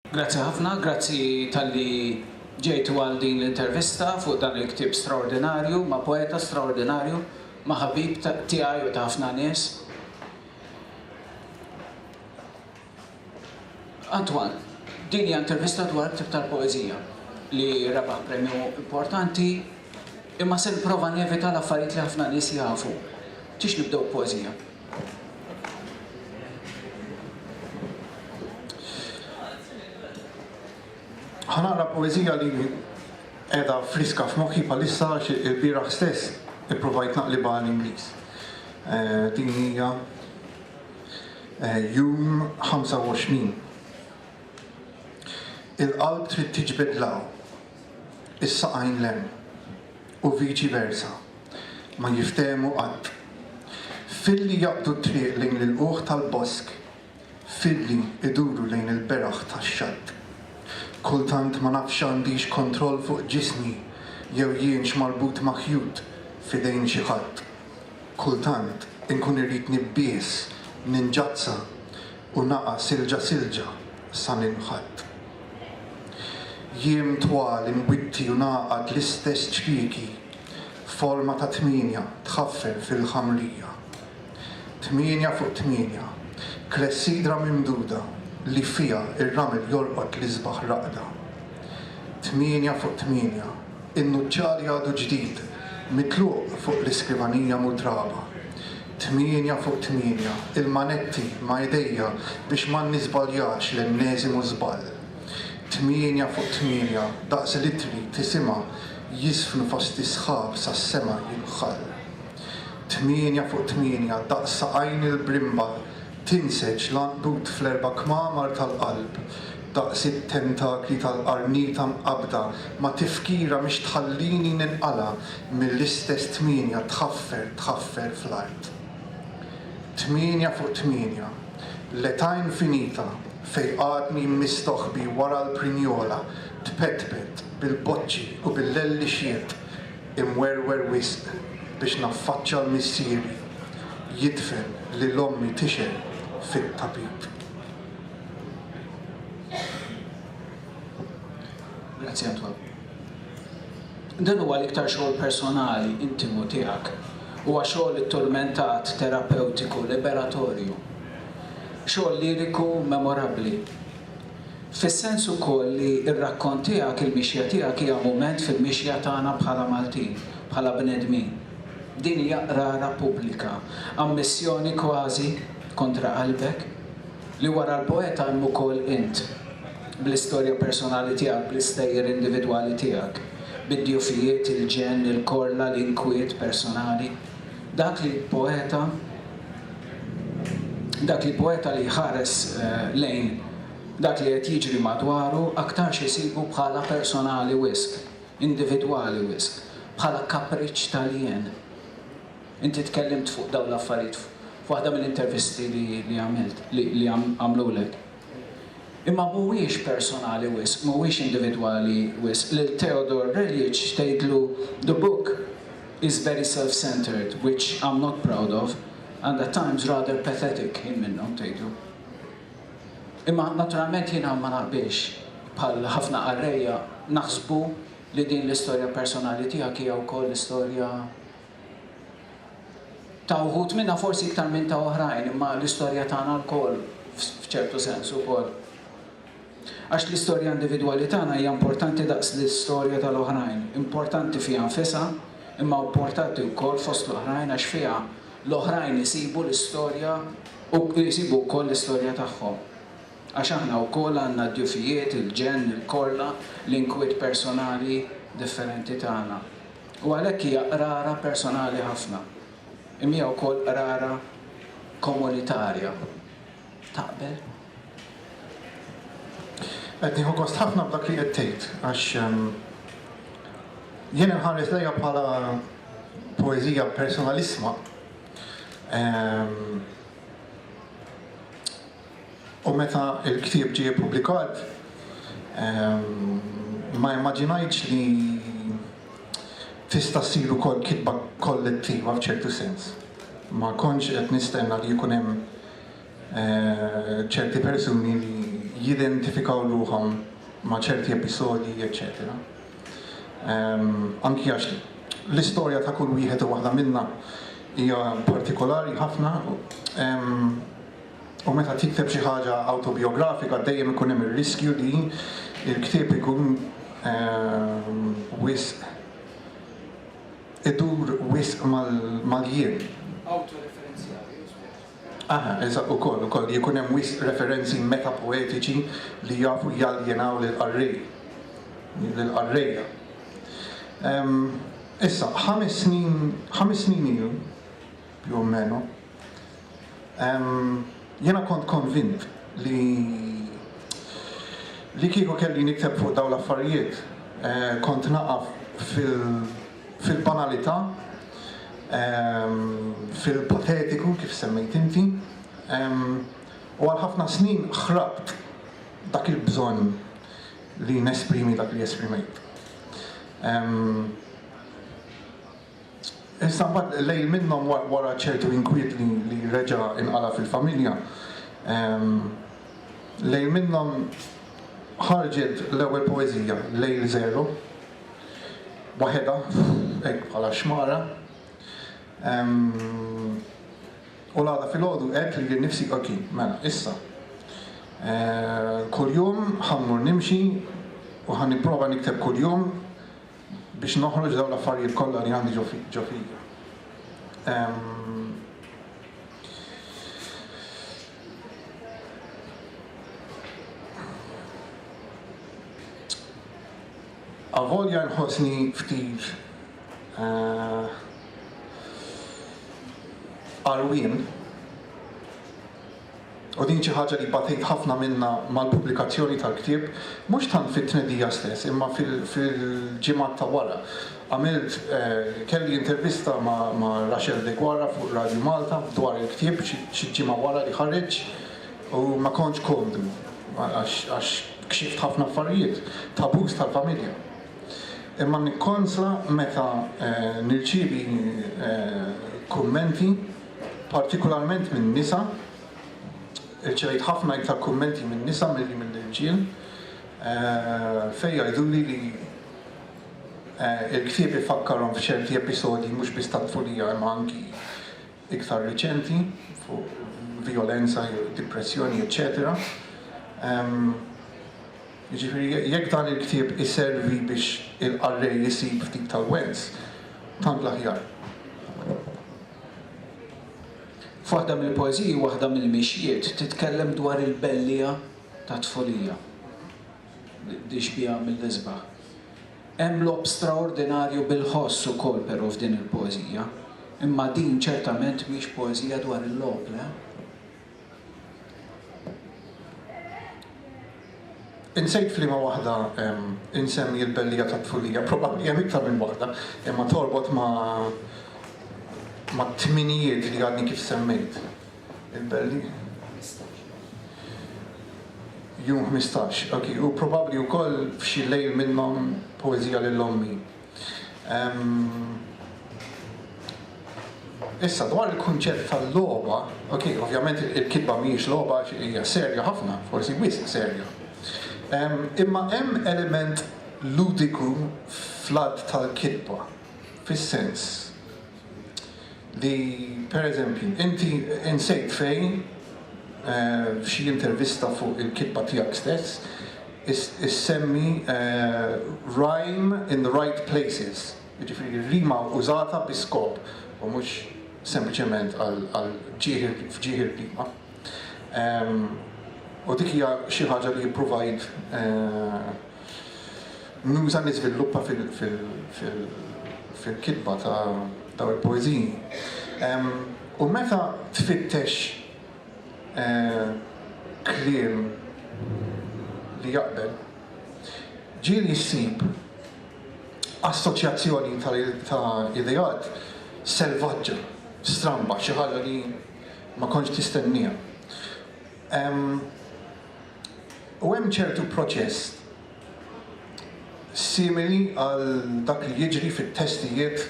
Grazzi ħafna, grazzi tal-li ġejtu għal din l-intervista fuq dan il-ktib straordinarju, ma' poeta straordinarju, ma' ħabib tiegħi u ta' ħafna nies. Antoine, din hija intervista dwar il-ktieb tal-poeżija li rebaħ premju importanti imma se nipprova nevita l-affarijiet li ħafna nies jafu. Tridx nibdew b'poeżija? Ħa naqra poeżija li qiegħda friska f'moħħi bħalissa għax ilbieraħ stess ippruvajt naqlibha għall-Ingliż. Din hija Jum 25 Il-qalb trid tiġbed 'l hawn, is-saqajn 'l hemm, u viċi versa, ma jiftehmu qatt. Filli jaqbdu t-triq lejn l-ilqugħ tal-bosk, filli iduru lejn il-beraħ tax-xatt. Kultant ma nafx għandix kontroll fuq ġismi jew jienx marbut ma' ħjut f'idejn xi ħadd. Kultant inkun irrid nibbies, ninġazza u naqa' silġa silġa sa ninħatt. Jiem twal inwitti u ngħaqad l-istess ċkieki f'forma ta' tmienja tħaffel fil-ħamrija. Tmienja fuq tmienja, klessidra mimduda li fiha r-ramel jolqot l-isbaħ raqda. Tmienja fuq tmienja. In-nuċċar jagħdu ġdid, mitluq fuq l-iskrivanija mutraba. Tmienja fuq tmienja, il-manetti ma' idejja biex ma nniżbaljax l-enneżimu żball. Tmienja fuq tmienja, daqs l-ittri, tisimha, jiżfnu fost is-sħab sas-sema jinħall. Tmienja fuq tmienja, daqs saqajn il-brimba, Tinseġ l-għandud fl-erba' kmamar tal-qalb, daqs it-tentakli tal-qarnita mqabbda ma' tifkira mhix tħallini ninqala' mill-istess tmienja tħaffer tħaffer fl-art. Tmienja fuq tmienja. L-età infinita fejn għadni mistoħbi wara l-prinjola tpetpet bil-boċċi u bil-lellixjiet imwerwer wisq biex naffaċċa l-missieri jidfen lil ommi tixgħel fit-tapit. Grazzi Antoine. Dan huwa l-iktar xogħol personali, intimu tiegħek. Huwa xogħol itturmentat, terapewtiku, liberatorju. Xogħol liriku memorabbli. Fis-sens ukoll li r-rakkont tiegħek, il-mixja tiegħek hija mument fil-mixja tagħna bħala Maltin, bħala bnedmin. Din hija qrara pubblika, ammissjoni kważi, kontra qalbek, li wara l-poeta hemm ukoll int, bl-istorja personali tiegħek, bl-istejjer individwali tiegħek, bid-djufijiet, il-ġenn, il-korla, l-inkwiet personali. Dak li poeta Dak li poeta li jħares lejn dak li qed jiġri madwaru aktarx isibu bħala personali wisq, individwali wisq, bħala kapriċċ tal-jien. Inti tkellimt fuq dawn l-affarijiet f'waħda mill-intervisti li għamilt, li għamlulek. Imma mhuwiex personali wisq, mhuwiex individwali wisq lil Theodore Reljic tgħidlu The book is very self-centred, which I'm not proud of, and at times rather pathetic, jien minnhom, tgħidlu. Imma naturalment jiena ma naqbilx, bħal ħafna qarrejja, naħsbu li din l-istorja personali tiegħek hija wkoll l-istorja Ta' wħud minnha forsi iktar minn ta' oħrajn, imma l-istorja tagħna lkoll f'ċertu sens ukoll. Għax l-istorja individwali tagħna hija importanti daqs l-istorja tal-oħrajn, importanti fiha nfisha, imma importanti wkoll fost l-oħrajn għax fiha l-oħrajn isibu l-istorja u jsibu wkoll l-istorja tagħhom. Għax aħna wkoll għandna d-djufijiet, il-ġenn, il-korla, l-inkwiet personali differenti tagħna. U għalhekk hija qrara personali ħafna, imma hija wkoll qrara komunitarja. Taqbel? Qed nieħu gost ħafna b'dak li qed tgħid għax jien inħares lejha bħala poeżija personalissima. u meta l-ktieb ġie ippubblikat ma immaġinajtx li tista' ssir ukoll kitba kollettiva f'ċertu sens. Ma kontx qed nistenna li jkun hemm ċerti persuni li jidentifikaw ruħhom ma' ċerti episodji eċċetera. Anki għax l-istorja ta' kull wieħed u waħda minna hija partikolari ħafna. U meta tikteb xi ħaġa awtobijografika dejjem ikun hemm ir-riskju li l-ktieb ikun wisq idur wisq mal-jien. Awtoreferenzjali, u żbaljat. Aha, eżatt, ukoll, ukoll, li jkun hemm wisq referenzi metapoetiċi li jafu jaljenaw lill-qarrej, lill-qarrejja. Issa, ħames snin, ħames snin ilu, più o meno, jiena kont konvint li li kieku kelli nikteb fuq dawn l-affarijiet kont naqa' fil-banalità, fil-patetiku kif semmejt inti, u għal ħafna snin ħrabt dak il-bżonn li nesprimi dak li esprimejt. Iżda mbagħad lejl minnhom wara ċertu inkwiet li reġa' inqala' fil-familja, lejl minnhom ħarġet l-ewwel poeżija, Lejl Żero, waħedha, hekk bħala xmara. U l-għada filgħodu għedt lili nnifsi ok, mela, issa, kuljum ħa mmur nimxi u ħa nipprova nikteb kuljum biex noħroġ dawn l-affarijiet kollha li għandi ġo fija. Avolja nħossni ftit eh, arwien u din xi ħaġa li batejt ħafna minnha mal-pubblikazzjoni tal-ktieb, mhux tant fit-tnedija stess imma fil-ġimgħat ta' wara. Għamilt, kelli intervista ma' Rachel Deguara fuq Radio Malta dwar il-ktieb xi ġimgħa wara li ħareġ u ma kontx komdu għax kxift ħafna affarijiet, tabus tal-familja. Imma nikkonsla meta nirċievi kummenti. partikularment min-nisa, irċevejt ħafna iktar kummenti min-nisa milli mill-irġiel fejn jgħiduli li l-ktieb ifakkarhom f'ċerti episodji mhux biss tat-tfulija imma anki iktar riċenti fuq vjolenza jew dipressjoni eċċetera. Jiġifieri jekk dan il-ktieb iservi biex il-qarrej isib ftit tal-wens, tant l-aħjar. F'waħda mill-poeżiji waħda mill-mixjiet titkellem dwar il-belliegħa tat-tfulija li xbiha mill-isbaħ. Hemm logħob straordinarju bil-ħoss ukoll però f'din il-poeżija, imma din ċertament mhix poeżija dwar il-logħob, le? Insejt f'liema waħda insemmi l-bellija tat-tfulija, probabbli hemm iktar minn waħda, imma torbot ma' mat-tminijiet li għadni kif semmejt. Il-belli. Jum 15, ok, u probabbli wkoll f'xi lejl minnhom poeżija lil ommi. Issa dwar il-kunċett tal-logħba, ok, ovvjament il-kitba mhijiex logħba hija serja ħafna, forsi wisq serja. Imma hemm element ludiku fl-att tal-kitba, fis-sens li pereżempju inti insejt fejn f'xi intervista fuq il-kitba tiegħek stess issemmi rhyme in the right places, jiġifieri r-rima użata bi skop u mhux sempliċement għal ġieħ f'ġieħ ir-rima. U dik hija xi ħaġa li ppruvajt Muża li żviluppa fil-kitba ta' dawn il-poeżiji. U meta tfittex kliem li jaqbel, ġieli ssib assoċjazzjoni ta' ideat selvaġġa, stramba, xi ħaġa li ma kontx tistennieha. U hemm ċertu proċess simili għal dak li jiġri fit-testijiet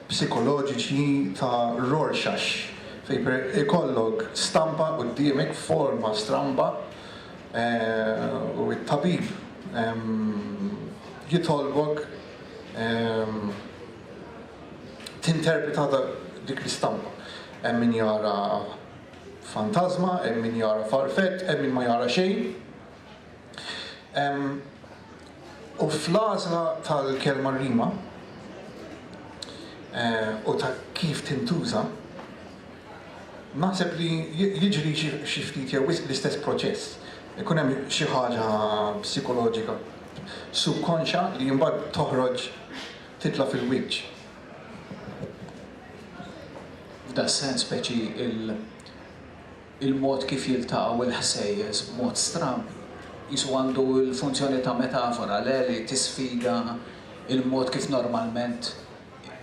psikoloġiċi ta' Rorschach fejn per ikollok stampa quddiemek f'forma stramba u t-tabib jitolbok tinterpreta dik l-istampa. Hemm min jara fantażma, hemm min jara farfett, hemm min ma jara xejn. U fl-għażla tal-kelma rima u ta' kif tintuża, naħseb li jiġri xi ftit jew wisq l-istess proċess. Ikun hemm xi ħaġa psikoloġika subkonxja li mbagħad toħroġ titla' fil-wiċċ. F'das-sens speċi il-mod kif jiltaqgħu l-ħsejjes b'mod stramb qisu għandu l-funzjoni ta' metafora, le li tisfida l-mod kif normalment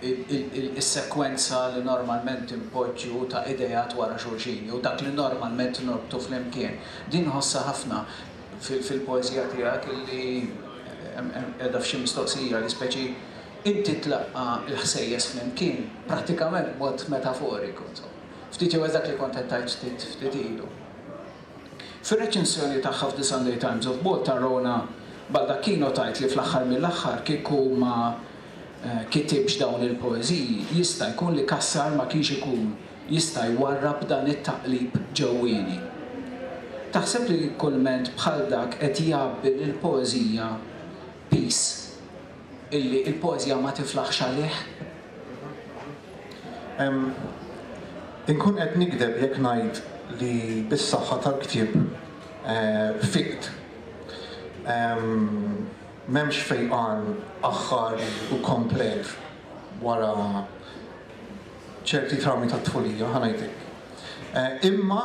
is-sekwenza li normalment inpoġġu ta' ideat wara xulxin jew dak li normalment norbtu flimkien. Din nħossha ħafna. fil-poeżija tiegħek illi qiegħda f'xi mistoqsija li speċi inti tlaqqa' l-ħsejjes flimkien prattikament b'mod metaforiku, insomma. Ftit jew hekk dak li kont qed tgħid ftit ftit ilu. Fir-reċensjoni tagħha f'The Sunday Times of Malta Rona Baldacchino tgħid li fl-aħħar mill-aħħar kieku ma kitibx dawn il-poeżiji jista' jkun li Cassar ma kienx ikun jista' jwarrab dan it-taqlib ġewwieni. Taħseb li kulment bħal dak qed jgħabbi lill-poeżija piż illi l-poeżija ma tiflaħx għalih? Ehm, inkun qed nigdeb jekk ngħid li bis-saħħa tal-ktieb fiqt. Ehm, m'hemmx fejqan aħħar u komplet wara. ċerti traumi tat-tfulija, ħa ngħidlek. Imma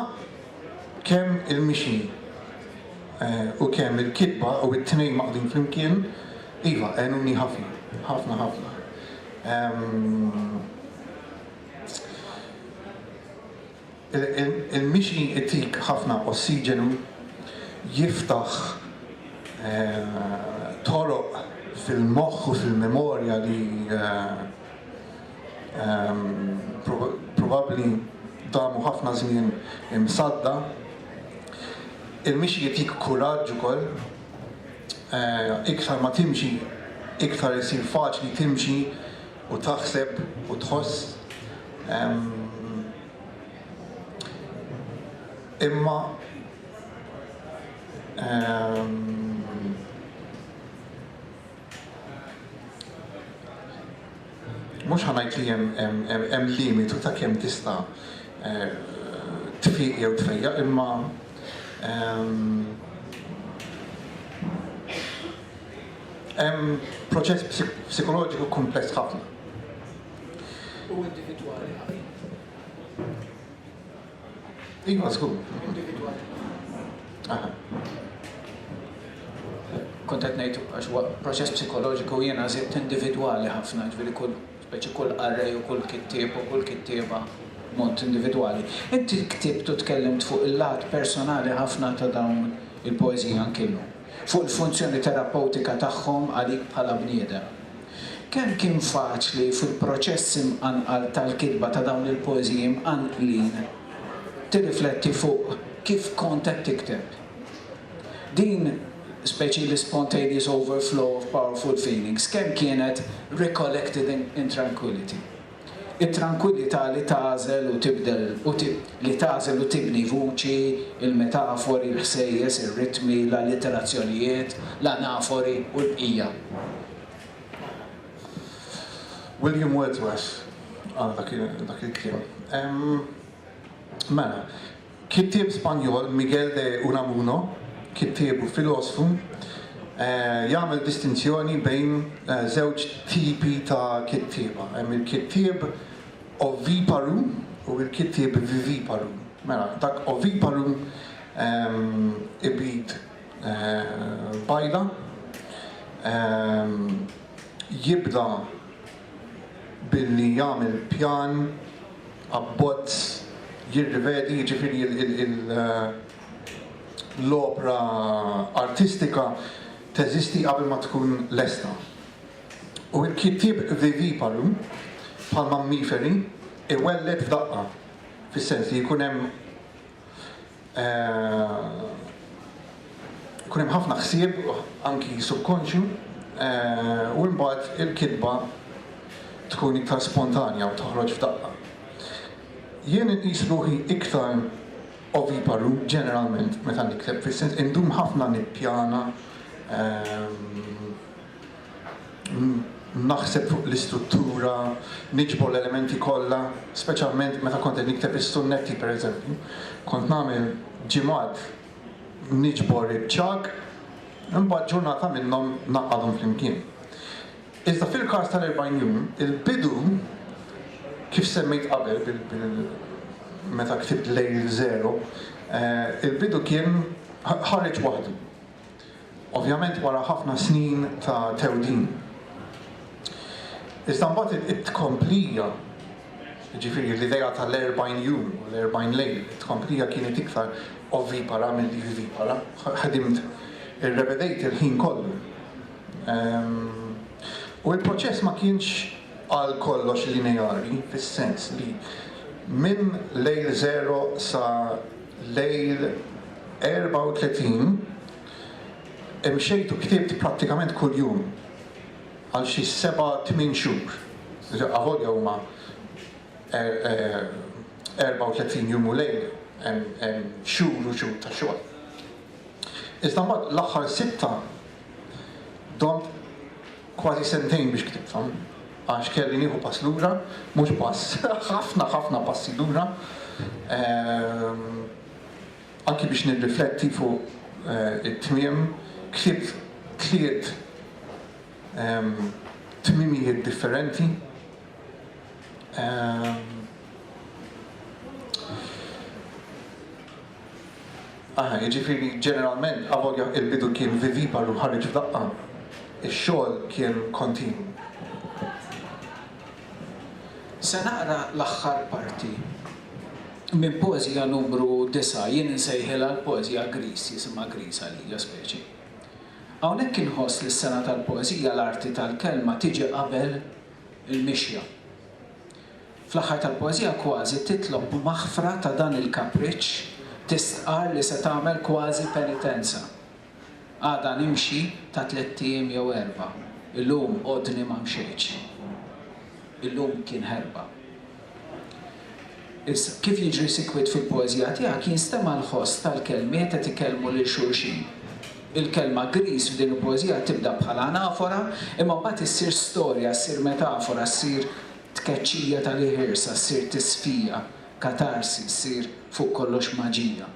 kemm il-mixi u kemm il-kitba u t-tnejn maqdin flimkien, iva, għenuni ħafna, ħafna, ħafna. Il-mixi jtik ħafna ossiġenu, jiftaħ toroq fil-moħħ u fil-memorja li probabbli damu ħafna żmien imsadda. Il-mixi jtik kuraġġ ukoll, iktar ma timxi iktar isir faċli timxi, U taħseb u tħoss, Ehm. Imma. Ehm. Mhux ħa ngħid li hemm limitu ta' kemm tista' tfiq jew tfejjaq imma, ehm. Hemm proċess psikoloġiku kumpless ħafna. U individwali ħafna. Iva, żgur. Individwali. Aha. Kont qed ngħid għax huwa proċess psikoloġiku jiena żidt individwali ħafna, ġifieri kull speċi kull qarrej u kull kittieb u kull kittieba mod individwali. Inti ktibt u tkellimt fuq il-lat personali ħafna ta' dawn il-poeżiji anki llum. fuq il-funzjoni terapewtika tagħhom għalik bħala bniedem. Kemm kien faċli fil-proċess imqanqal tal-kitba ta' dawn il-poeżiji mqanqlin tirrifletti fuq kif kont qed tikteb. Din speċi li spontaneous overflow of powerful feelings kemm kienet recollected in tranquillity. It-trankwillità li tagħżel u tibdel u li tagħżel u tibni vuċi, il-metafori, il-ħsejjes, ir-ritmi, l-allitterazzjonijiet, l-anafori u l-bqija. William Wordsworth qal dak il-kliem. Mela, Kittieb Spanjol, Miguel de Unamuno, kittieb u filosfu, jagħmel distinzjoni bejn żewġ tipi ta' kittieba. Hemm il-kittieb oviparu u l-kittieb viviparu. Mela, dak oviparu ibid bajda, jibda billi jagħmel pjan abbozz jirrivedi, jiġifieri l-opra artistika teżisti qabel ma tkun lesta. U l-kittieb viviparu, bħall-mammiferi, iwelled f'daqqa, fis-sens li jkun hemm, Ikun hemm ħafna ħsieb anki subkonxju u imbagħad il-kitba tkun iktar spontanja u toħroġ f'daqqa. Jien inqis ruħi iktar oviparu ġeneralment meta nikteb, fis-sens indum ħafna nippjana, naħseb fuq l-istruttura, niġbor l-elementi kollha, speċjalment meta kont qed nikteb is-sunnetti pereżempju. Kont nagħmel ġimgħat niġbor iċ-ċagħaq, imbagħad ġurnata minnhom naqgħadhom flimkien. Iżda fil-każ tal-40 jum, il-bidu kif semmejt qabel meta ktibt lejl żero, eh, il-bidu kien ħareġ waħdu. Ovvjament wara ħafna snin ta' tewdin. Iżda mbagħad it-tkomplija, jiġifieri l-idea tal-erbgħin jum u l-erbgħin lejl, it-tkomplija kienet iktar ovipara milli vivipara. Ħdimt irrebedejt il-ħin kollu. U l-proċess ma kienx għal kollox lineari fis-sens li minn lejl żero sa Lejl 34, Imxejt u ktibt prattikament kuljum għal xi seba' tmien xhur. Avolja huma 34 jum u lejl, hemm xhur u xhur ta' xogħol. Iżda mbagħad l-aħħar sitta domt Kważi sentejn biex ktibthom għax kelli nieħu pass lura, mhux pass, ħafna, ħafna passi lura, anki biex nirrifletti fuq it-tmiem. Ktibt tliet tmiemijiet differenti. Aha, jiġifieri ġeneralment, avolja il-bidu kien viviparu ħareġ f'daqqa, ix-xogħol kien kontinwu. Se naqra l-aħħar parti minn poeżija numru disgħa, jien insejħilha l-poeżija Gris, jisimha Gris għalija speċi. Hawnhekk inħoss li s-sengħa tal-poeżija l-arti tal-kelma tiġi qabel il-mixja. Fl-aħħar tal-poeżija kważi titlob maħfra ta' dan il-kapriċċ, tistqarr li se tagħmel kważi penitenza. Għada nimxi ta' tlett ijiem jew erbgħa, illum għodni ma mxejtx. Illum kien ħerba. Issa, kif jiġri sikwit fil-poeżija tiegħek jinstema' l-ħoss tal-kelmiet qed ikellmu lil xulxin. Il-kelma griż f'din il-poeżija tibda bħala anafora imma mbagħad issir storja, ssir metafora, ssir Tkeċċija ta' li ħirsa ssir tisfija, katarsi ssir fuq kollox maġija.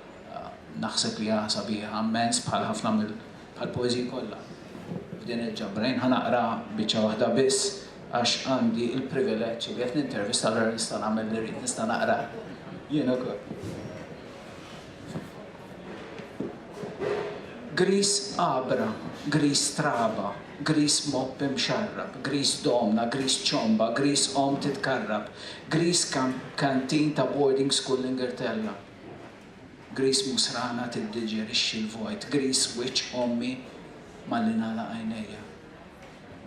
Naħseb li hija sabiħa mmens bħal ħafna mill bħal poeżiji kollha f'din il-ġabra. Jien ħa naqra biċċa waħda biss għax għandi l-privileġġ li qed nintervista allura nista' nagħmel li rrid, nista' naqra jien ukoll. Griż għabra, griż traba, griż mopp imxarrab, griż domna, griż ċomba, griż omm titkarrab, griż kantin ta' boarding school l-Ingilterra, griż musrana tiddiġerixxi l-vojt, griż wiċċ ommi malli nagħlaq għajnejja,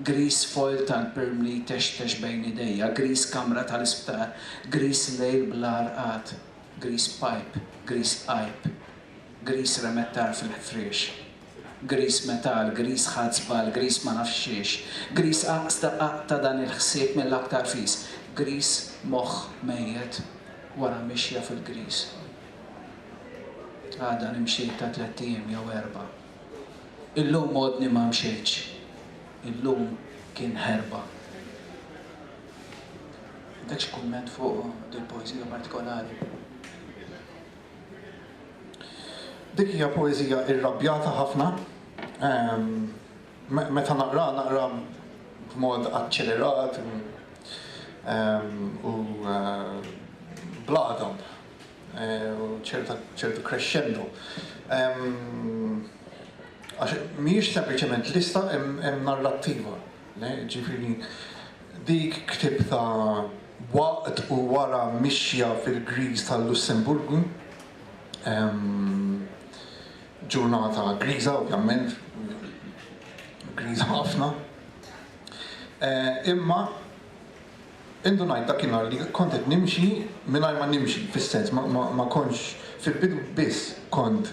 griż foil tal-pirm li jtextex bejn idejja, griż kamra tal-isptar, griż lejl bla rqad, Grease pipe, grease għajb. Grease remet tar fil-ħfriex. Grease metal, grease ħadt żball, grease ma nafx xiex. Grease aqsda qaqt ta' dan il-ħsieb mill-aktar fis. Grease moħħ mejjet wara mixja fil-grease. Għada nimxi ta' tlett ijiem jew erbgħa. Illum għodni ma mxejtx. Illum kien ħerba. Għandek xi kumment fuq dil poezija partikolari? Dik hija poezija irrabjata ħafna. Ehm, meta naqra, naqra b'mod aċċelerat u ehm, eh, bladhom. u ċertu crescendo. Għax mhijiex sempliċement lista hemm narrattiva. Ġifieri dik ktibtha waqt u wara mixja fil-griż tal-Lussemburgu, ġurnata griża ovvjament, griża ħafna. Imma. Indunajt dakinhar li kont qed nimxi mingħajr ma nimxi, fis-sens ma ma kontx, fil-bidu biss kont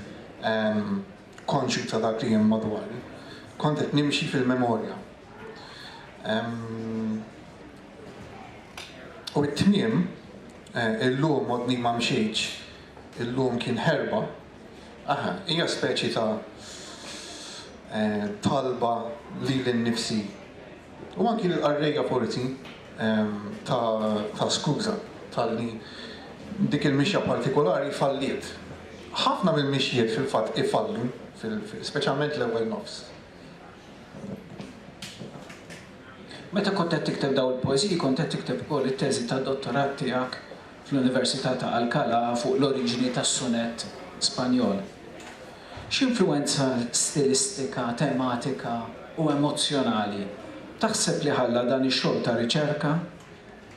konxju ta' dak li hemm madwari, kont qed nimxi fil-memorja. U t-tmiem, illum għodni ma mxejtx, illum kien ħerba, aha, hija speċi ta' talba lili nnifsi. U anki lill-qarrejja forsi ta' skuża talli dik il-mixja partikolari falliet. Ħafna mill-mixjiet fil-fatt ifallu, speċjalment l-ewwel nofs. Meta kont qed tikteb dawn il-poeżiji kont qed tikteb ukoll it-teżi tad-dottorat tiegħek fl-Università ta' Alcalá fuq l-oriġini tas-sunett Spanjol. X'influwenza stilistika, tematika u emozzjonali taħseb li ħalla dan ix-xogħol ta' riċerka,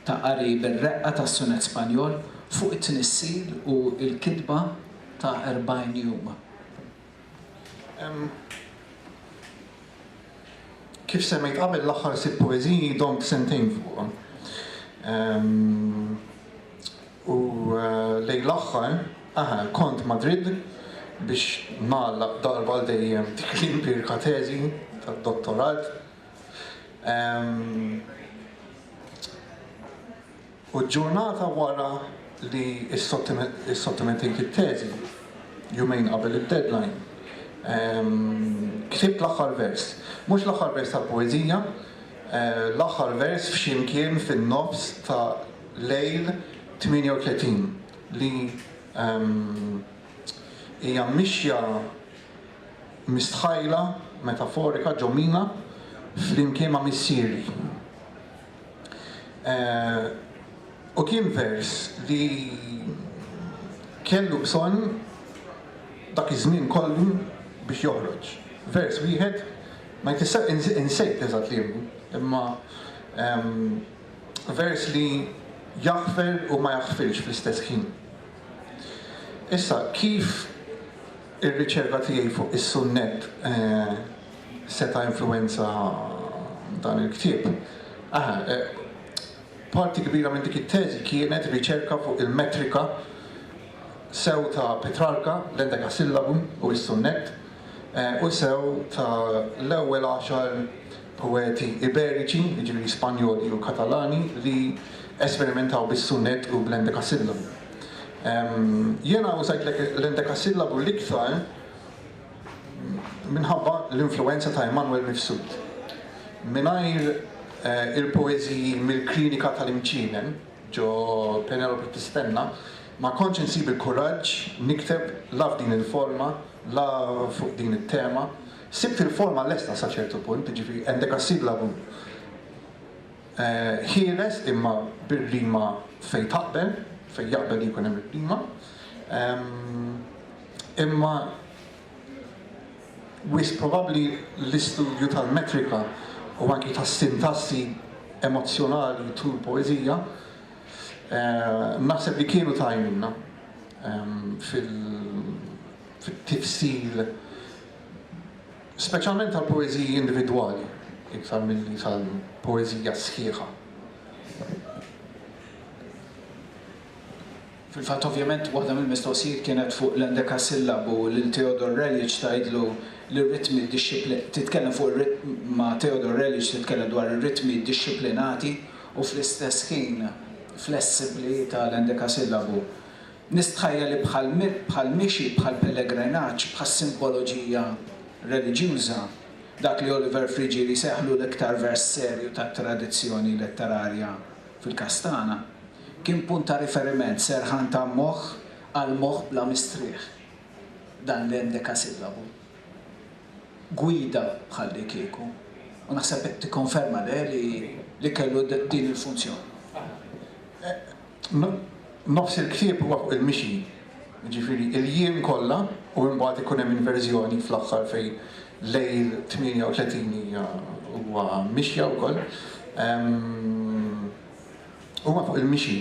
ta' qari bir-reqqa tas-sunett Spanjol, fuq it-tnissil u l-kitba ta' Erbgħin Jum? Kif semmejt qabel, l-aħħar sitt poeżiji domt sentejn fuqhom. U lejn l-aħħar, eħe, kont Madrid biex nagħlaq darba għal dejjem dik l-impirka teżi tad-dottorat. U l-ġurnata wara li ssottomettejt it-teżi, jumejn qabel id-deadline, ktibt l-aħħar vers. Mhux l-aħħar vers tal-poeżija, l-aħħar vers f'xi mkien fin-nofs ta' lejl 38 li hija mixja mistħajla metaforika ġo mina flimkien ma' missieri. U kien vers li kellu bżonn dak iż-żmien kollu biex joħroġ. Vers wieħed ma jfisser, insejt eżatt liemu, imma, vers li jaħfer u ma jaħfirx fl-istess ħin. Issa, kif ir-riċerka tiegħi fuq is-sunnett seta' influwenza dan il-ktieb? Aha, parti kbira minn dik it-teżi kienet riċerka fuq il-metrika sew ta' Petrarca, l-endekasillabu u s-sunnett, u sew ta' l-ewwel għaxar poeti Iberiċi, jiġifieri Spanjoli u Katalani, li esperimentaw bis-sunett u bl-endekasillabu. Jiena użajt l-endekasillabu l-iktar minħabba l-influwenza ta' Immanuel Mifsud. Mingħajr il-poeżiji mill-Klinika tal-Imċinen ġo Penelope Tistenna ma kontx insib il-kuraġġ nikteb la f'din il-forma, la fuq din it-tema. Sibt il-forma lesta sa ċertu punt, jiġifieri endekassillabum ħieles imma bir-rima fejn taqbel, fejn jaqbel li jkun hemm ir-rima. Imma wisq probabbli l-istudju tal-metrika u anki tas-sintassi emozzjonali tul poeżija naħseb li kienu ta' għajnuna. fit-tifsil, speċjalment tal-poeżiji individwali, iktar milli tal-poeżija sħiħa. Fil-fatt, ovvjament, waħda mill-mistoqsijiet kienet fuq l-endekasillabu lil Theodor Relic tgħidlu li r-ritmi titkellem fuq ir-ritm ma' Theodor Relic titkellem dwar ir-ritmi dixxiplinati u fl-istess ħin flessibbli ta' l-endekasillabu. Nistħajjel li bħal bħal mixi, bħal pellegrinaġġ, bħas-simboloġija reliġjuża, dak li Oliver Frigili seħħlu l-iktar vers serju tat-tradizzjoni letterarja fil-Kastana, kien punt ta' riferiment serħan ta' moħħ għal moħħ bla mistrieħ, dan l-endekasillabu. gwida bħallikieku u naħseb qed tikkonferma le li li kellu din il-funzjoni. Nofs il-ktieb huwa fuq il-mixi, jiġifieri il-jiem kollha u imbagħad ikun hemm inverżjoni fl-aħħar fejn lejl 38 hija huwa mixja wkoll. huma fuq il-mixi,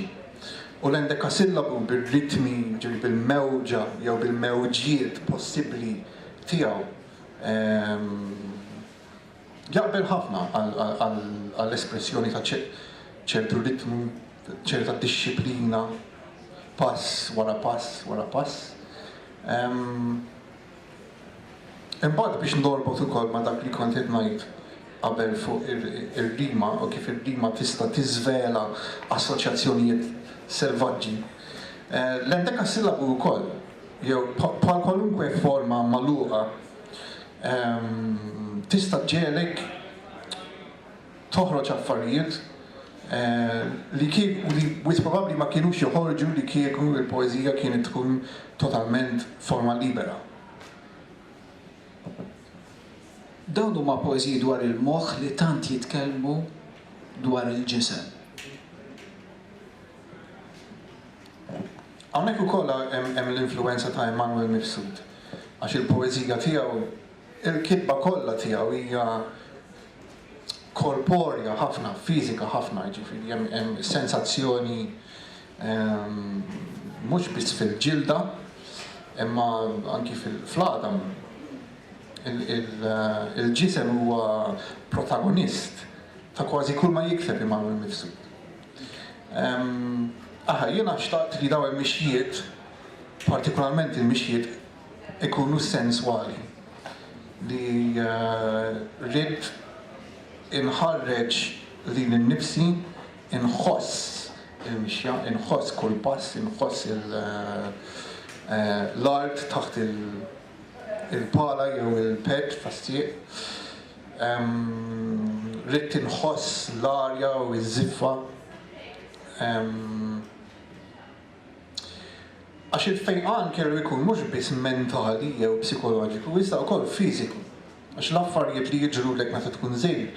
u l-endekasillabu bir-ritmi, jiġifieri bil-mewġa jew bil-mewġiet possibbli tiegħu, jaqbel ħafna għall-espressjoni ta' ċertu ritmu, ċerta dixxiplina, pass wara pass wara pass. Imbagħad biex norbot ukoll ma' dak li kont qed ngħid qabel fuq ir-rima u kif ir-rima tista' tiżvela assoċjazzjonijiet selvaġġi, l-endekassillabu wkoll, jew bħal kwalunkwe forma magħluqa, tista' ġġegħlek toħroġ affarijiet li kieku, li wis probabbli ma kienux joħorġu li kieku l-poeżija kienet tkun totalment forma libera. Dawn huma poeżiji dwar il-moħħ li tant jitkellmu dwar il-ġisem. Hawnhekk ukoll hemm l-influwenza ta' Emanuel Mifsud għax il-poeżija tiegħu, Il-kitba kollha tiegħu hija korporja ħafna, fiżika ħafna, jiġifieri hemm hemm sensazzjoni mhux biss fil-ġilda imma anki fil-għadam. Il-ġisem huwa protagonist ta' kważi kull ma jikteb Immanuel Mifsud. Aħna, jiena xtaqt li dawn il-mixjiet, partikularment il-mixjiet ikunu senswali li rrid inħarreġ lili nnifsi, inħoss il-mixja, inħoss kull pass, inħoss l-art taħt il-pala jew il-pad tas-sieq, rrid inħoss l-arja u ż-żiffa. Għax il-fejqan kellu jkun mhux biss mentali jew psikoloġiku iżda wkoll fiżiku, għax l-affarijiet li jiġrulek meta tkun żgħir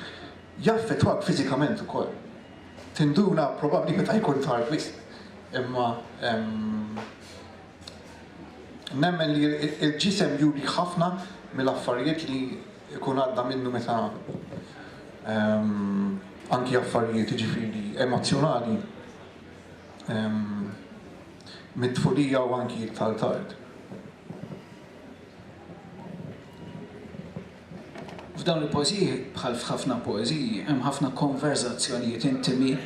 jaffettwak fiżikament ukoll. Tinduna probabbli meta jkun tard wisq, imma nemmen li l-ġisem jurih ħafna mill-affarijiet li jkun għadda minnu meta anki affarijiet jiġifieri emozzjonali. mit-tfulija u anki iktar tard. F'dawn il-poeżiji, bħal f'ħafna poeżiji, hemm ħafna konverżazzjonijiet intimi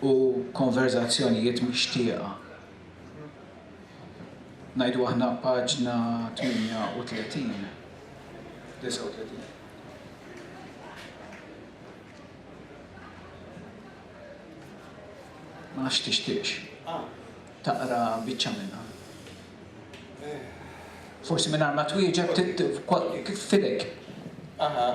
u konverżazzjonijiet mixtieqa. Ngħidu aħna paġna 38, 39. Ma nafx tixtieqx taqra biċċa minnha. Forsi mingħajr ma twieġeb kif fidejk. Aha.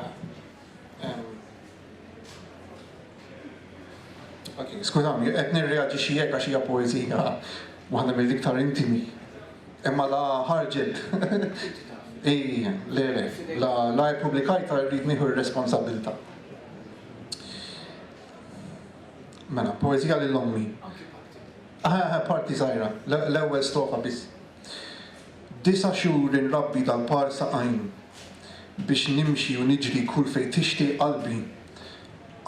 Skużawni, qed nirreaġixxi hekk għax hija poeżija waħda mill-iktar intimi. Imma la ħarġet. I, le, le, la ippubblikajtha rrid nieħu r-responsabbiltà. Mela, poezija lil ommi. Parti żgħira, l-ewwel strofa biss. Disa' xhur inrabbi dal-par saqajn biex nimxi u niġri kull fejn tixtieq qalbi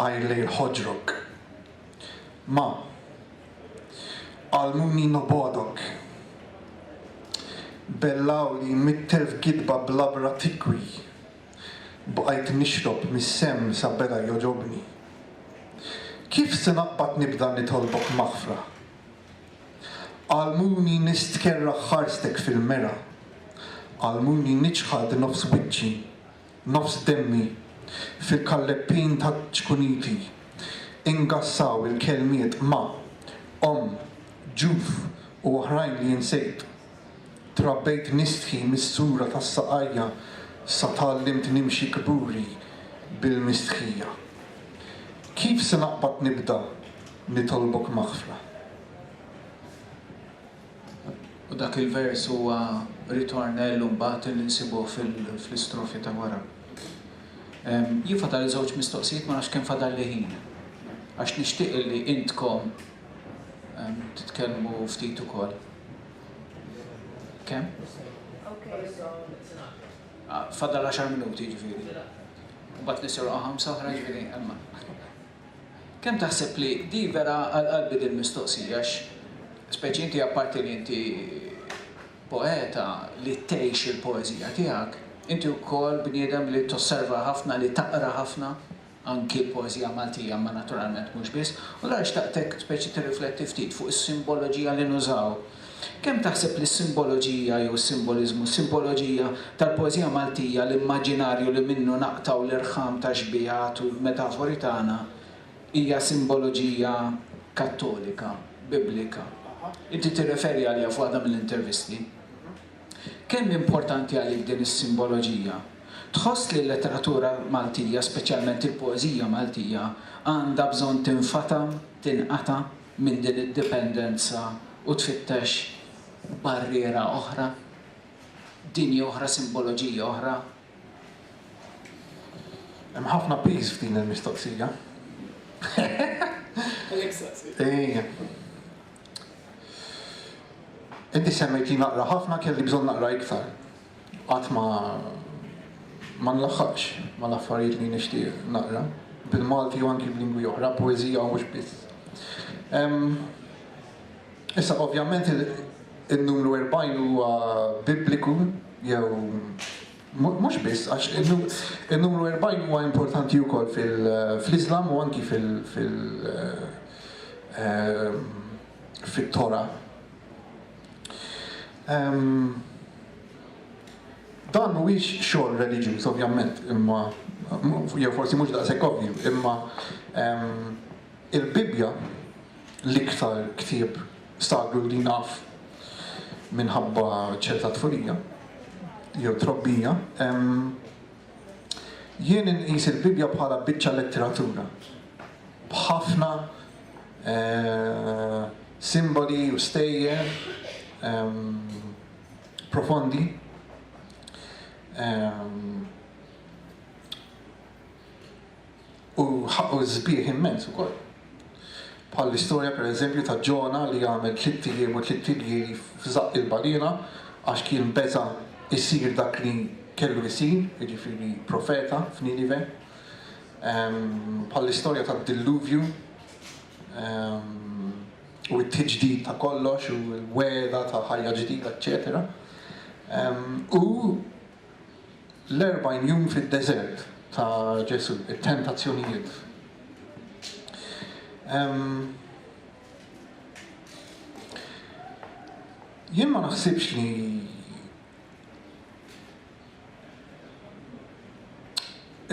għajr lejl ħoġrok. Ma għallmuni nobgħodok. Bellgħuli mitter f'gidba bl-għabra tikwi. bqajt nixrob mis-semm sa beda jogħġobni. Kif se naqbad nibda nitolbok maħfra? Għallmuni nistkerrah ħarstek fil-mera, għallmuni niċħad nofs wiċċi, nofs demmi, fil-kalleppin taċ-ċkuniti, ingassaw il-kelmiet ma, omm, ġuf u oħrajn li insejt. Trabbejt nistħi mis-sura tas-saqajja sa tgħallimt nimxi kburi bil-mistħija. Kif se naqbad nibda nitolbok maħfra? U dak il-vers huwa ritornello mbagħad li nsibuh fl-istrofi ta' wara. Jien fadalli żewġ mistoqsijiet ma nafx kemm fadalli ħin. Għax nixtieq li intkom titkellmu ftit ukoll. Kemm? Ah, fadal 10 minuti ġifieri. U bat nisirqa ħamsa oħra ġifieri imma. Kemm taħseb li di vera għal-qalbi din mistoqsija speċi inti apparti li inti poeta li tgħix il-poeżija tiegħek, inti wkoll bniedem li tosserva ħafna, li taqra ħafna. anki l-poeżija Maltija imma naturalment mhux biss, u allura xtaqtek speċi tirrifletti ftit fuq is-simboloġija li nużaw. Kemm taħseb li s-simboloġija jew is-simboliżmu, s-simboloġija tal-poeżija Maltija, l-immaġinarju li minnu naqtgħu l-irħam tax-xbiehat u l-metafori tagħna, hija simboloġija Kattolika, Biblika? Inti tirreferi għaliha f'waħda mill-intervisti. Kemm importanti għalik din is-simboloġija? Tħoss li l-letteratura Maltija, speċjalment il-poeżija Maltija, għandha bżonn tinfata', tinqata' minn din id-dipendenza u tfittex barriera oħra, dinja oħra, simboloġija oħra? Hemm ħafna piż f'din il-mistoqsija. Għalhekk staqsejt. Ejja. Inti semmejtni naqra ħafna kelli bżonn naqra iktar. Qatt ma ma nlaħħaqx mal-affarijiet li nixtieq naqra bil-Malti u anki b'lingwi oħra, poeżija u mhux biss. Issa ovvjament in-numru 40 huwa bibliku jew Mhux biss, għax in-numru erbgħin huwa importanti wkoll fl-Iżlam u anki fit-Tora. Dan mhuwiex xogħol reliġjuż ovvjament, imma jew forsi mhux daqshekk ovvju, imma il-Bibbja l-iktar ktieb Stagħlu li naf minħabba ċerta tfulija jew trobbija. Jien inqis il-Bibbja bħala biċċa letteratura b'ħafna simboli u stejjer profondi. U ħaqqu sbieħ immens ukoll. Bħall-istorja pereżempju ta' Ġona li għamel tlitt ijiem u tlitt iljieli f'żaqq il-baliena għax kien beża' jsir dak li kellu jsir, jiġifieri profeta f'Ninive. Bħall-istorja tad-dilluvju u t-tiġdid ta' kollox u l-wegħda ta' ħajja ġdida eċċetera. U L-erbgħin jum fid-deżert ta' Ġesù, it-tentazzjonijiet. Jien ma naħsibx li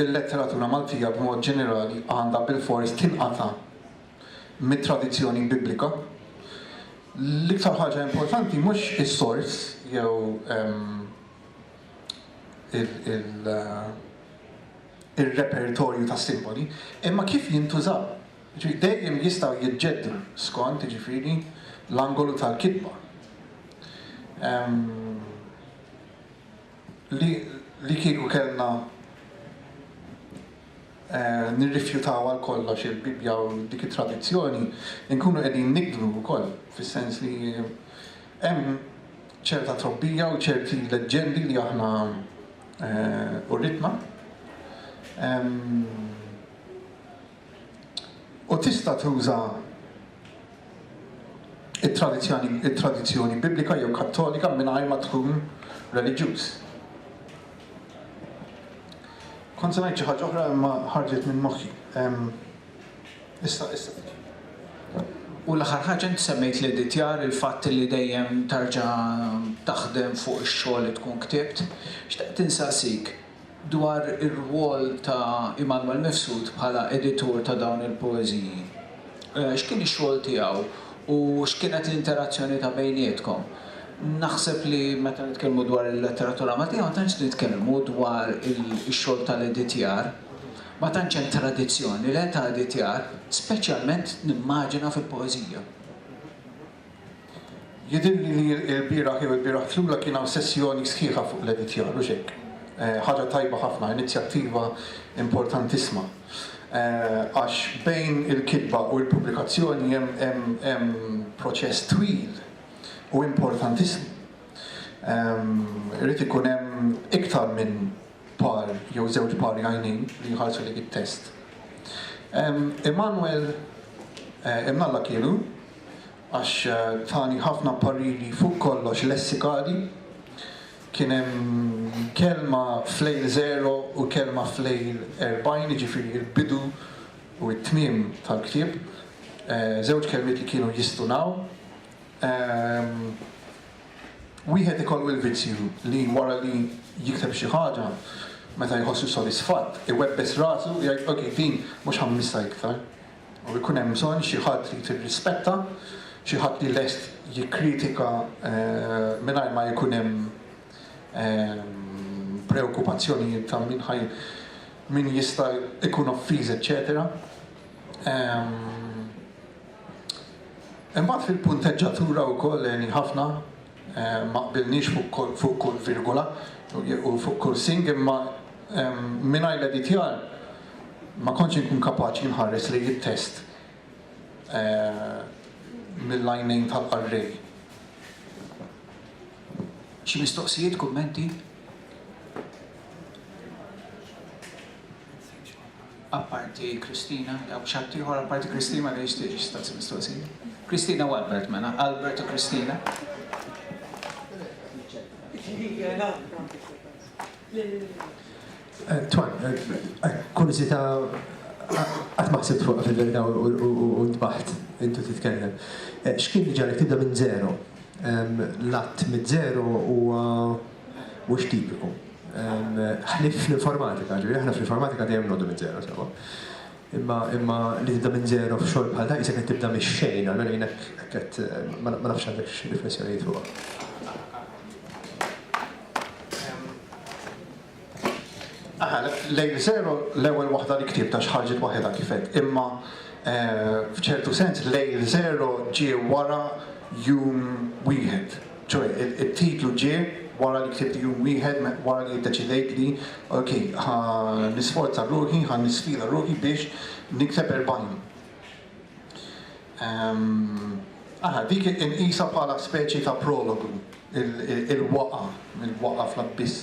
l-letteratura Maltija b'mod ġenerali għandha bilfors tinqata' mit-tradizzjoni Biblika. L-iktar ħaġa importanti mhux is-sors jew ir-repertorju ta' simboli, imma kif jintużaw. Jiġifieri dejjem jistgħu jiġġeddru skont, jiġifieri, l-angolu tal-kitba. Li kieku kellna nirrifjutaw għal kollox il-Bibbja u dik it-tradizzjoni, inkunu qegħdin nigdlu wkoll, fis-sens li, Hemm ċerta trobbija u ċerti leġġendi li aħna uritna. U tista' tuża it-tradizzjoni Biblika jew Kattolika mingħajr ma tkun reliġjuż. Kont se ngħid xi ħaġa oħra imma ħarġet minn moħħi. Issa, issa tiġi. U l-aħħar ħaġa inti semmejt l-editjar, il-fatt li dejjem tarġa' taħdem fuq ix-xogħol li tkun ktibt. Xtaqt insaqsik dwar ir-rwol ta' Immanuel Mifsud bħala editur ta' dawn il-poeżiji. X'kien ix-xogħol tiegħu u x'kienet l-interazzjoni ta' bejnietkom? Naħseb li meta nitkellmu dwar il-letteratura Maltija ma tantx nitkellmu dwar ix-xogħol tal-editjar. Ma tantx hemm tradizzjoni le ta' editjar, speċjalment nimmaġina fil-poeżija. Jidhirli li lbieraħ jew ilbieraħ flura kien hawn sessjoni sħiħa fuq l-editjar, hux hekk? Ħaġa tajba ħafna, inizjattiva importantissma. Għax bejn il-kitba u l-pubblikazzjoni hemm proċess twil u importantissmu. Irid ikun hemm iktar minn par jew żewġ pari għajnejn li jħarsu lejk it-test. Immanuel imnalla kielu għax tani ħafna pariri fuq kollox lessikali. Kien hemm kelma f'lejl żero u kelma f'lejl erbgħin, jiġifieri l-bidu u t-tmiem tal-ktieb, żewġ kelmiet li kienu jistunaw. Wieħed ikollu l-vizzju li wara li jikteb xi ħaġa, meta jħossu sodisfatt, iwebbes rasu u jgħid ok, din mhux ħammissha iktar. U jkun hemm bżonn xi ħadd li tirrispetta, xi ħadd li lest jikkritika mingħajr ma jkun hemm preokkupazzjonijiet ta' min ħa min jista' jkun offiż eċċetera. Imbagħad fil-punteġġatura wkoll għeni ħafna, ma qbilniex fuq kull virgola u fuq kull sing imma mingħajr l-editjar ma kontx inkun kapaċi nħares lejn it-test mill-għajnejn tal-qarrej. Xi mistoqsijiet, kummenti? Apparti Christina, hawn xi ħaddieħor apparti Christina li jixtieq jistaqsi mistoqsija? Christina u Albert mela, Albert u Christina. Twan, kurżità qatt ma ħsibt fuqha fil-verità u ntbaħt intu titkellem. X'kien li ġagħlek tibda minn żero? L-għadd miż-żero huwa mhux tipiku. Ħlief fl-informatika, ġifieri aħna fl-informatika dejjem noqogħdu minn żero sewwa. Imma imma li tibda minn żero f'xogħol bħal dan qisek qed tibda mix-xejn, almenu jien hekk hekk qed ma nafx għandekx xi riflessjonijiet fuqha. Aha, lejn żero l-ewwel waħda li ktibt għax ħarġet waħedha kif għedt, imma f'ċertu sens lejl żero ġie wara jum wieħed. Ċoe, it-titlu ġie wara li ktibt jum wieħed wara li ddeċidejt li, ok, ħa nisforza ruħi, ħa nisfida ruħi biex nikteb erbgħin. Ara, dik inqisha bħala speċi ta' prologu, il-waqgħa, il-waqgħa fl-abbiss.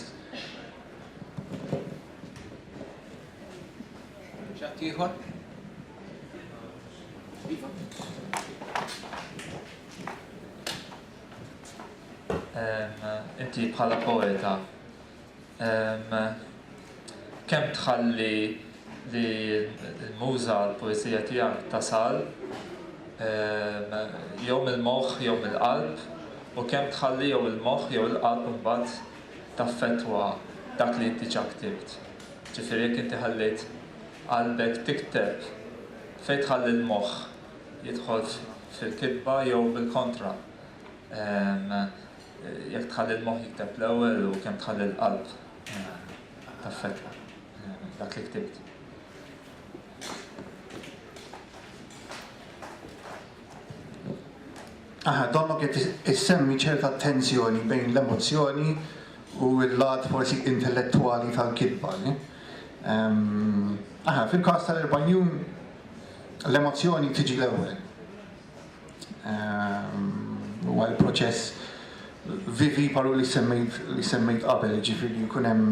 X'ħaddieħor? Inti bħala poeta, kemm tħalli li l-muża, l-poeżija tiegħek tasal jew mill-moħħ jew mill-qalb u kemm tħalli jew il-moħħ jew il-qalb imbagħad taffettwa dak li inti diġà ktibt? Ġifieri jekk inti ħallejt qalbek tikteb, fejn tħalli l-moħħ? jidħolx fil-kitba jew bil-kontra, jekk tħalli l-moħħ jikteb l-ewwel u kemm tħalli l-qalb taffettwa dak li ktibt. Aha, donnok qed issemmi ċerta tensjoni bejn l-emozzjoni u l-lat forsi intellettwali tal-kitba. Aha, fil-każ tal-Erbanjun L-emozzjoni tiġi l-ewwel. Huwa l-proċess vivi paru li semmejt li semmejt qabel, ġifieri jkun hemm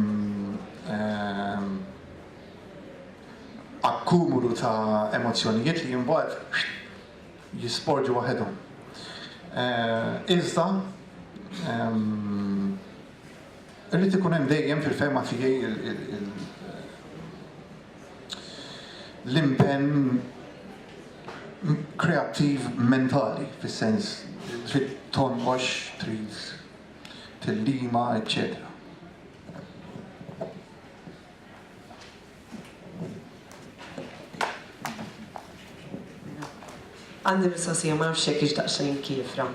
akkumulu ta' emozzjonijiet li mbagħad jisporġu waħedhom. Iżda irid ikun hemm dejjem fil-fehma tiegħi l-impenn kreattiv mentali, fis-sens trid tonqox, trid tillima, eċċetera. Għandi mistoqsija ma nafx jekk hix daqsxejn kiefra.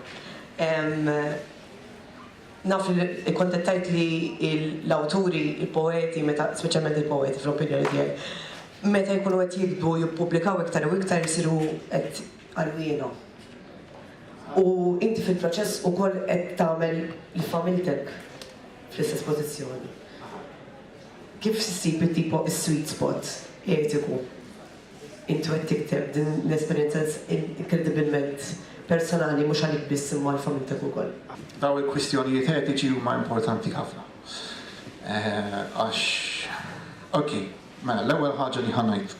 Naf li kont qed tgħid li l-awturi, il-poeti, meta, speċjalment il-poeti fl-opinjoni tiegħi, meta jkunu qed jiktbu u jippubblikaw iktar u iktar isiru qed għarwiena. U inti fil-proċess ukoll qed tagħmel lil familtek fl-istess pożizzjoni. Kif issib it-tipo, is-sweet spot, etiku? Inti qed tikteb din l-esperjenza inkredibilment personali mhux għalik biss imma għal familtek ukoll. Dawn il-kwistjonijiet etiċi huma importanti ħafna. Għax, ok, mela l-ewwel ħaġa li ħa ngħid.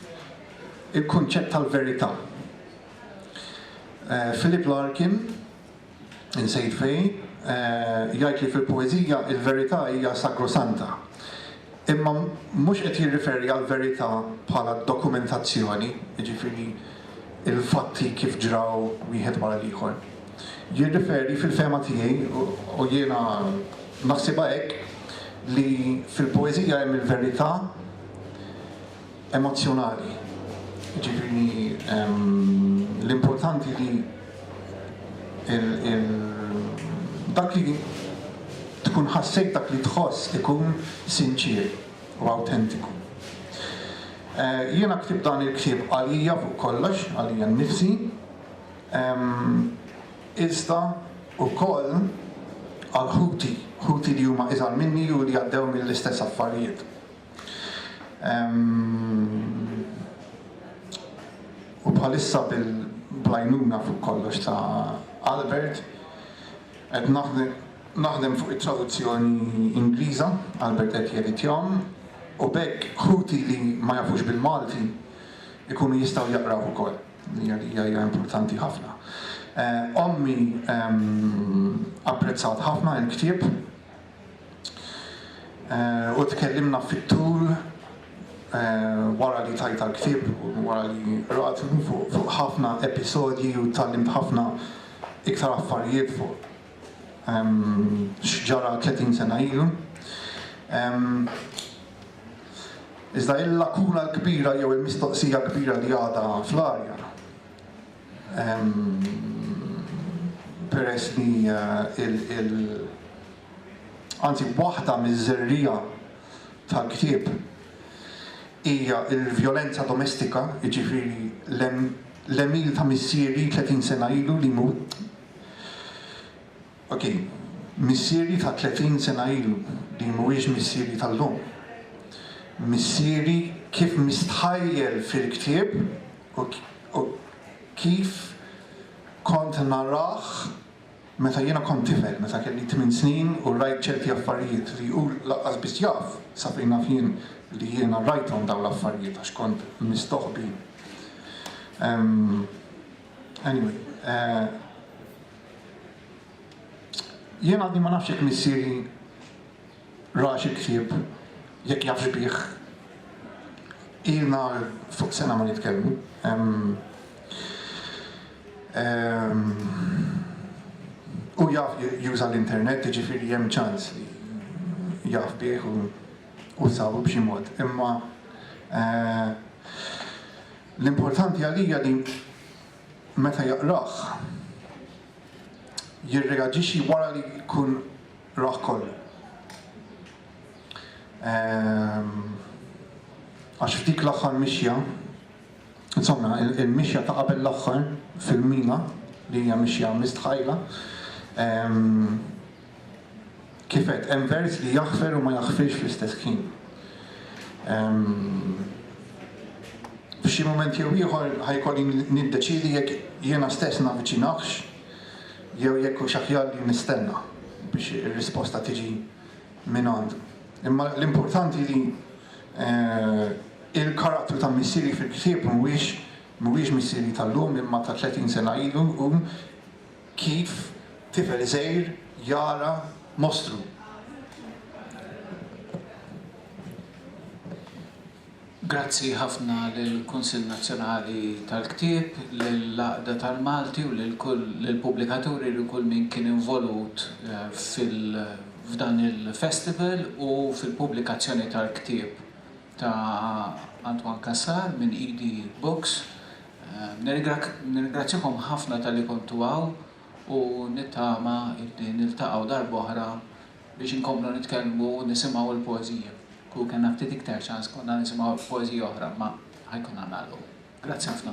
Il-kunċett tal-verità. Philip Larkin Insejt fejn, jgħid li fil-poeżija l-verità hija sagrosanta. Imma mhux qed jirriferi għall-verità bħala dokumentazzjoni, jiġifieri l-fatti kif ġraw wieħed wara l-ieħor. Jirriferi, fil-fehma tiegħi, u jiena naħsibha hekk, li fil-poeżija hemm il-verità, emozzjonali, jiġifieri l-importanti li dak li tkun ħassejt, dak li tħoss ikun sinċier u awtentiku. Jiena ktibt dan il-ktieb għalija fuq kollox, għalija nnifsi, iżda wkoll għal ħuti, ħuti li huma iżgħar minni u li għaddew mill-istess affarijiet. U bħalissa bil-blajnuna fuq kollox ta' Albert, qed naħdem fuq it-traduzzjoni Ingliża, Albert qed jeditjahom, u b'hekk ħuti li ma jafux bil-Malti jkunu jistgħu jaqrawh ukoll, li għalija hija importanti ħafna. Ommi apprezzat ħafna l-ktieb. U tkellimna fit-tul wara li tajtha l-ktieb u wara li qrathu fuq ħafna episodji u tgħallimt ħafna iktar affarijiet fuq x'ġara 30 sena ilu. Iżda il-lakuna l-kbira jew il-mistoqsija kbira li għadha fl-arja peress li anzi waħda miż-żerriegħa tal-ktieb hija l-vjolenza domestika, jiġifieri l-għemil ta' missieri tletin sena ilu li jmut. Ok, missieri ta' 30 sena ilu, din mhuwiex missieri tal-lum. Missieri kif mistħajjel fil-ktieb u kif kont narah meta jiena kont tifel, meta kelli tmien snin u rajt ċerti affarijiet li hu lanqas biss jaf sa fejn naf jien li jiena rajthom dawn l-affarijiet għax kont mistoħbi. Anyway. Jien għadni ma nafx jekk missieri rax il-ktieb, jekk jafx bih. Ilna fuq sena ma nitkellmu. Hu jaf juża l-internet, jiġifieri hemm ċans li jaf bih u sabu b'xi mod. Imma l-importanti għalija li meta jaqrah, jirreaġixxi wara li jkun rah kollu. Għax f'dik l-aħħar mixja, insomma, il-mixja ta' qabel l-aħħar fil-mina, li hija mixja mistħajra, Kif għedt, hemm vers li jaħfer u ma jaħfirx fl-istess ħin. F'xi mument jew ieħor ħajkolli niddeċidi jekk jiena stess navviċinahx jew jekk hux aħjar li nistenna biex ir-risposta tiġi minn għandu. Imma l-importanti li eh, il-karattru ta' missieri fil-ktieb mhuwiex mhuwiex missieri tal-lum imma ta' 30 sena ilu u Kif tifel iżgħir jara mostru. Grazzi ħafna lill-Kunsill Nazzjonali tal-Ktieb, lill-Għaqda tal-Malti u lil kull lill-pubblikaturi lil kull min kien involut fil f'dan il-festival u fil-pubblikazzjoni tal-ktieb. ta' Antoine Cassar minn Idi Books. Nirringrazzjakom ħafna talli kontu hawn u nittama illi niltaqgħu darb'oħra biex inkomplu nitkellmu u nisimgħu l-poeżija. Kieku kellna ftit iktar ċans konna nisimgħu poeżija oħra imma ħa jkollna nagħlqu. Grazzi ħafna.